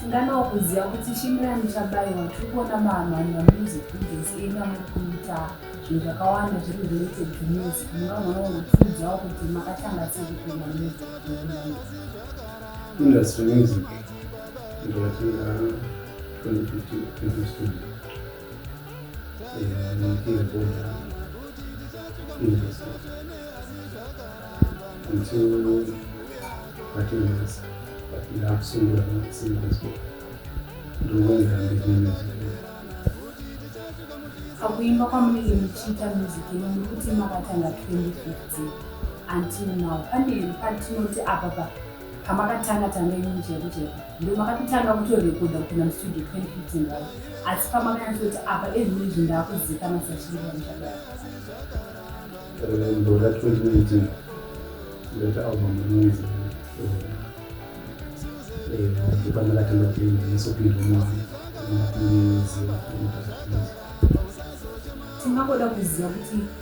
Tinganawo kuziva kuti Shimurani Chabaiwa tiri kuona maamhani mamusic videos enyu amuri kuita zvinhu zvakawanda zviri related to music mungagona kungotiudzawo kuti makatanga sei kupinda music industry music ndakatanga 2015 2016 Pakuimba kwamunenge muchiita music ino muri kuti makatanga 2015 until now pane here patinoti apa pa pamakatanga tanga inini chaiko chaiko ndo makatotanga kutorekodha kupinda mustudio 2015 vavo asi pamakanyatsoti apa ezvino izvi ndaakuzikana sachiriamuchadaro ndora 2019 ndoti album inoizi ndipandakatanga kuenda nesopindwa mwana ndinakuniziva tingakoda kuziva kuti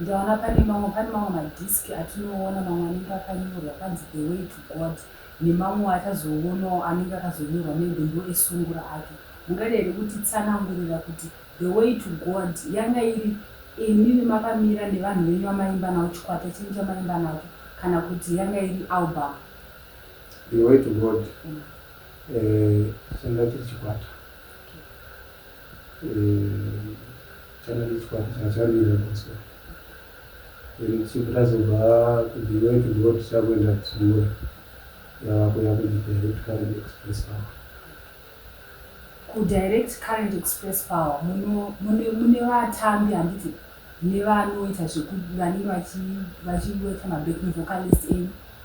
ndaona pane mamwe pane mamwe madhiski atinoona mamwe anenge akanyorwa panzi the way to god nemamwe atazoonawo anenge akazonyorwa maybe ndo esungura ake mungadai here kuti tsanangurira kuti the way to god yanga iri imimi makamira nevanhu venyu vamaimba navo chikwata chenyu chamaimba nacho kana kuti yanga iri album the way to god mm. Eh changa chiri chikwata eh changa chiri chikwata changa chakamira Bosco then chipo tazobva kuDiwe to go tichakuenda kuSungura yava kuya kuDirect Current Express Power kuDirect Current Express Power muno mune mune vatambi handiti nevanoita zveku vanenge vachi vachiweta mabacking vocalist enyu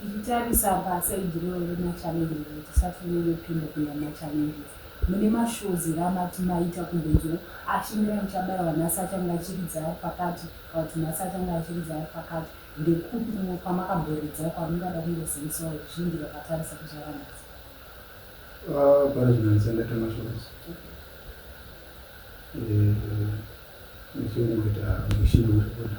Tichitarisa paside iroro remachallenges kuti tisati tinonyepinda kuenda mumachallenges mune mashows here amati maita kumbonzwira ashingirira ah, muchabaiwa nhasi achange achiridza ari pakati kana kuti nhasi achange achiridza ari pakati ndekupi kumwe kwamakaboridza kwamungada kungozivisawo ruzhinji rwakatarisa kuzuva ranhasi ah, pane zvinandisandaita mashows eh, ndichiongoita mushini wekuda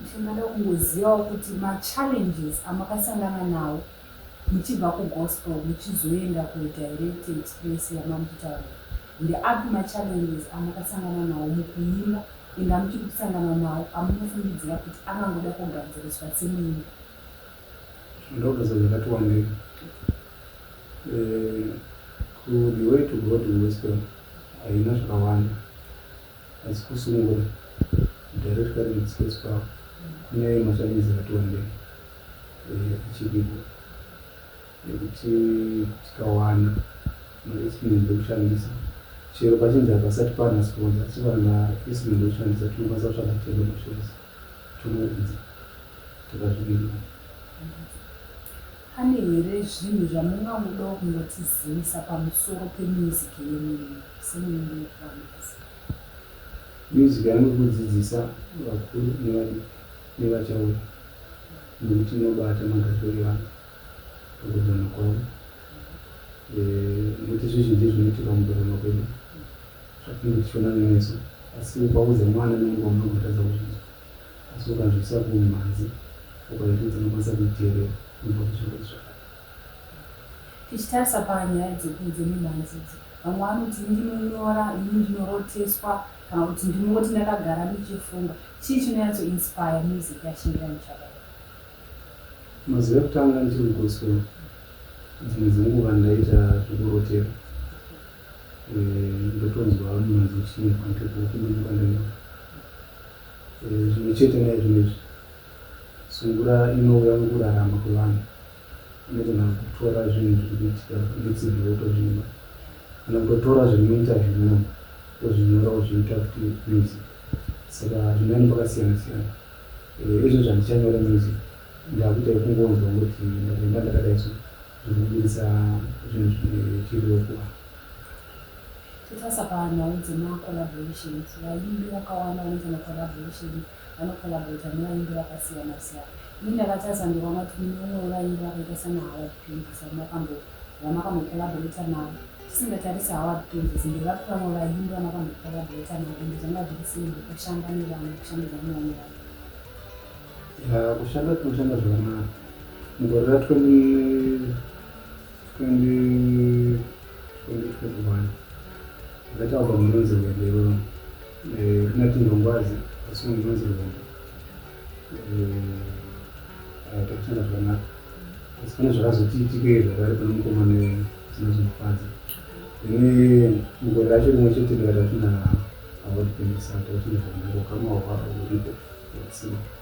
Ndinoda kungozivawo kuti machallenges amakasangana nawo muchibva kugospel muchizoenda kudirect express yamari kutaura ndeapi machallenges amakasangana nawo mukuimba and amuchiri kusangana nawo amunofungidzira kuti angangoda kugadziriswa semuimbi ndogeza zvakati wandei eh, ku the way to go to gospel haina zvakawanda Asi kusungura director lead sketch power kune machallenges akati wandei eh, achiripo nekuti tikawana mainstrument ekushandisa chero pachinzi hapasati pana sponsa asi vana instrument ekushandisa tinokwanisa kutsvaga tendo mashows tonoedza takazvimirira Pane here zvinhu zvamungangodawo kungotizivisa pamusoro pemusic yenyu imi semuimbi wekuVambazi? Music yangu kudzidzisa vakuru nevadiki nevachauya nekuti inobata magariro evanhu pakugona kwavo nekuti zvizhinji zvinoitika mukugona kwedu zvatinenge tichiona nemeso asi ukaudza mwana nemugoma unotadza kuzvinzwa Asi ukazviisa kumhanzi, ukaita idzo unokwanisa kuiteerera unobva kuzvirwere zvakare. Tichitarisa panyaya dzeku dzemimhanzi idzi, vamwe vanoti ini ndinonyora, ini ndinoroteswa kana kuti ndinongoti ndakagara ndichifunga. Chii chinonyatso inspire music yaShingiranyi Chababe? Mazuva ekutanga ndichiri kuGospel dzimwe dzenguva ndaiita zvekurotera eh, ndotonzwa mimhanzi ichiimba ndiri kuuku ndinonga ndaimba. Zvimwe chete naizvino izvi, sungura inouya mukurarama kwevanhu inogona kutora zvinhu zviri kuitika netsinhi yotozvimba kana kutotora zviri muinterview muno tozvinyora kuzviita futi music saka zvinani pakasiyana siyana eh, izvo zvandichanyora music ndakuita yekungonzwa kuti ndakaimba ndakadaiso zviri kubudisa zvinhu zvine chiriro kuvanhu Totasa panhau dzema collaborations, vaimbi vakawanda vanoita ma collaborations vano collaborater nevaimbi vakasiyana siyana. Ini ndakatasa ndikaona kuti mune umwe wevaimbi vakaita sana Howard Penzisi vandakambo vandakambo collaborater navo. Tisingatarisi Howard Penzisi ndevati vamwe vaimbi vandakambo collaborater navo ende zvanga zviri simple kushanda nevamwe kushandidza nevamwe vanhu. Yaa kushanda tinoshanda zvakanaka mugore ra 20 Ndakabva munonzi Vedero ndinati ndongwazi asi munonzi Vedero takushanda zvakanaka asi pane zvakazotiitike zvakari pane mukoma nezina zvinofadza ini mugore racho rimwe chete ndikatatina award pendisato tine zvakanaka ukama hwaripo watsima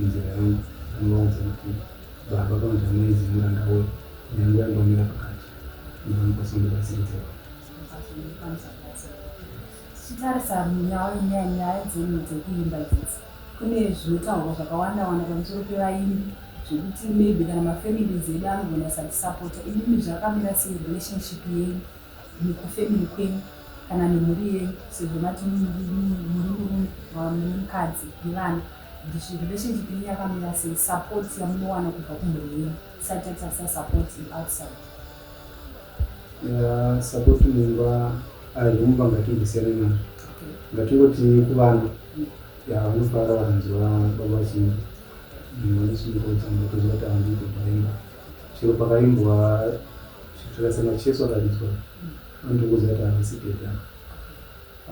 Inzira yangu ndinovaudza kuti baba kana kuti amai zii muranda woyo nyangu yangu amira pakati ndinokwanisa kundibatsira idzero tichitarisa nyaya dzenyu dzekuimba dzidzi kune zvinotaurwa zvakawanda wanda pamusoro pevaimbi zvekuti maybe kana mafamilies edu anogona kusatisapota imimi zvakamira sei relationship yenyu nekufamily kwenyu kana nemhuri yenyu sezvo mati muri murume mune mukadzi nevana This relationship yenyu yakamira sei support yamunowana kubva kumhuri yenyu tisati tatarisa support outside Yeah, support mumba arimumba ngatimbosiyana nazvo okay ngatingoti kuvana Mm. ya vanofara vanzwa baba vachinzi vanosungotanga kuziva kuti handiko paimba chero pakaimbwa zvitorasana cheso akaridzwa anotongoziva kuti havasi deda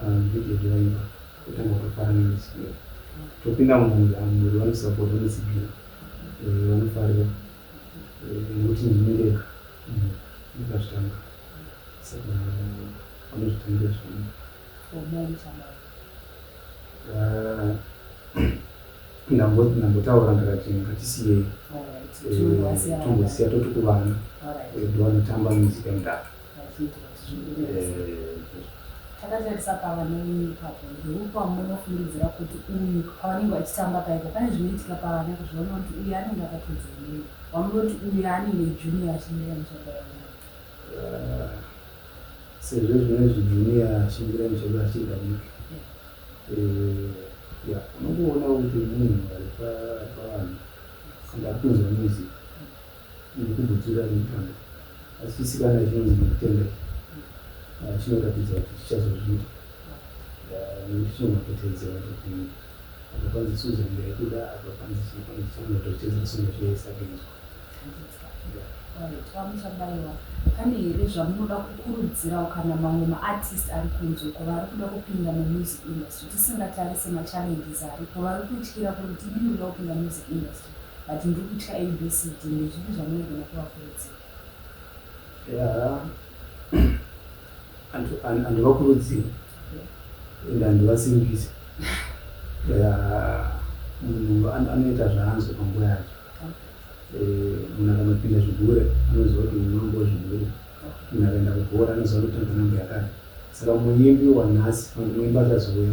ndidede vaimba Totanga kufarira musikero topinda mumunda mumunda vanosapota musikero eh, vanofarira eh, nekuti ndini ndega mm, ndikazvitanga saka vanozvitangira zvangu ndambotaura ndakati ngatisiyei tombosiya toti kuvana vanotamba muzika mudaka takati tisapava nemi ipapo ndeupa munofungidzira kuti uyu pavanenge vachitamba paipo pane zvinoitika pavana kuzviona kuti uyu anenge akatodza nemi vamunoti uyu anenge junior achimira muchado ah, sezvo zvinezvi junior achimira muchado achida miki eh, ya unongoona kuti munhu ari pavanhu singapinzwa music nekukumbutira mukana asi chisikana chinonzi Mukutendeka ah, chinoratidza kuti chichazozviita ah, nekuti chinomapoteedzera kuti apa panzi Susan ndaikuda apa panzi chii panzi chamoto chicheza sona choesagenzwa vamuchabaiwa pane here zvamunoda kukurudzirawo kana mamwe maartist ari kunze uko vari kuda kupinda mumusic industry tisingatarise machallenges aripo vari kutyira kuti tidii kuda kupinda music industry but ndiri kutya ABCD ndezvipi zvamunogona kuvakurudzira? Yeah. and and and vakurudzira and and vasimbise munhu anoita zvaanzwa panguva yacho eh, munhu akanopinda zvigure anoziva kuti unongo zvigure munhu akaenda kubhora anoziva kuti tanganambo yakati saka muimbi wanhasi muimbi achazouya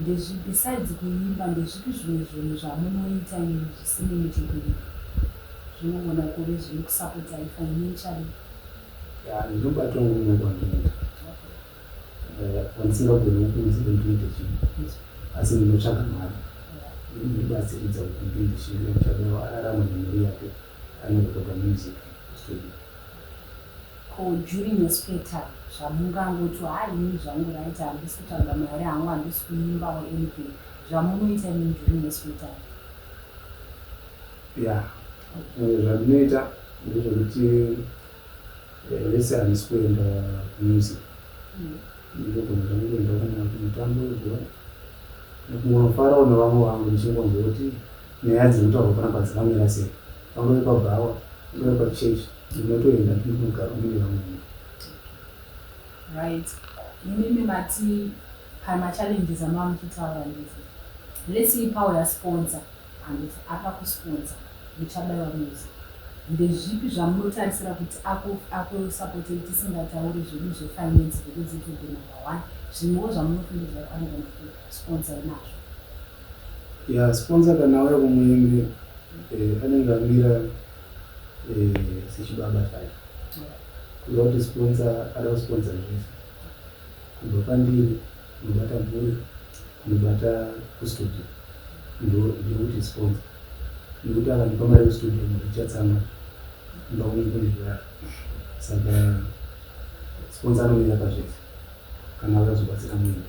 Ndezvi besides kuimba ndezvipi zvimwe zvinhu zvamunoita imi zvisine muchetura zvinogona kuve zvinokusapotai financially? Yeah ndinobatwa neumwe kwandinoita eh, wandisingagoni kukuudza kuti ndiite chii asi ndinotsvaga mari ndinobatsiridza kuti ndiite chii nekuti adarama nemari yake anorekoda music studio Ko Julie neSpetar zvamungangoti haa ini zvangu right handisi kutsvaga mari hangu handisi kuimba or anything zvamunoita imimi Julie neSpetar? Yeah. Eh, zvandinoita ndezvekuti eh, lese handisi kuenda kumusic mm. ndinogona zvangu kuenda kana kumutambo webhora kungonofarawo nevamwe vangu ndichingonzwa kuti nyaya dziri kutaurwa panapa dzakamira sei pangave pabhawa pangave pachurch Tinotoenda tiri kumugaro mune vamwene. Right. Imimi mati pama challenges amava muchitaura ndizvo. Let's see power ya sponsor and if apa ku sponsor muchabaiwa music. Ndezvipi zvamunotarisira kuti aku aku support tisingatauri zvedu zve finance because it will be number one. Zvimwewo zvamunofungidzira anogona ku sponsor nazvo. Yeah, sponsor kana auya kumuimbi eh, anenge amira sechibaba chake kuda kuti sponsa ada kusponsa zvese kubva pandiri kunobata mhuri kunobata kustudio ndokuti sponsa nekuti akandipa mari kustudio mhuri ichatsama ndaunezvaa saka sponsa anomira pazvese kana vakazobatsira muende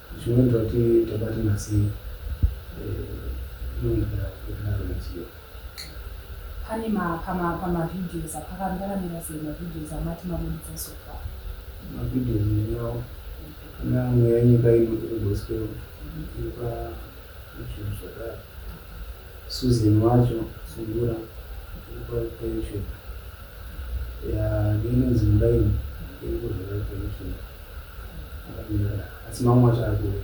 Zvino ndoti tobata masei nondira kudaro machiyo. Pane ma pama pama videos apakati pakamira sei ma videos amati mabuditsa so far. Ma videos ndinawo kana mweya yenyika ino iri gospel iripa YouTube zvakare. Susan wacho sungura iripa pa YouTube. Ya ndinonzi muraini iri kuzvara pa YouTube. asi mamwe wacho ari kuuya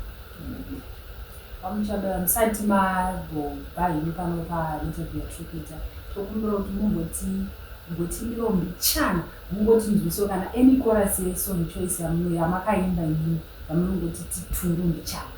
pamuchabaya musati magobva henyu pano painterview yatripita tokumbira kuti mumboti mbotimbiro mbichana mungotinzwiso kana any chorus yesong choice yamakaimba imini yamunongoti titundu mbichana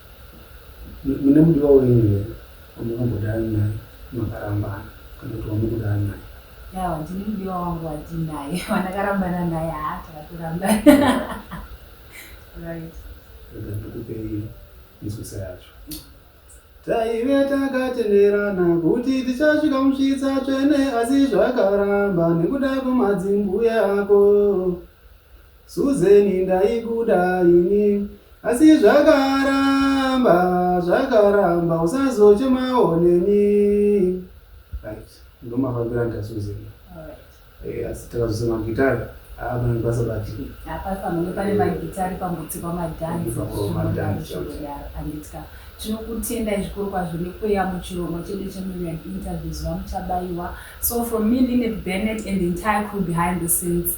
mune mudiwa wenyu here wamukambodana naye makarambana kana kuti wamukudana naye yawa ndine mudiwa wangu watinaye wandakarambana naye haa takatorambana right rega ndikupei nzwisa yacho taive takatenderana kuti tichasvika musvitsa tsvene asi zvakaramba nekuda kwemadzimbuya ako Susan ndaikuda ini asi zvakaramba zvakaramba usazochemawo neni right ndomafambira nda Susan eh, asi takazose magitari apanenge pasabati apafanenge pane magitari pambutsi pamadhanzianditya tinokutendai zvikuru kwazvo nekuuya muchirongwa chedu chemillion interviews vamuchabaiwa so from me linet bennet and the entire crew behind the scenes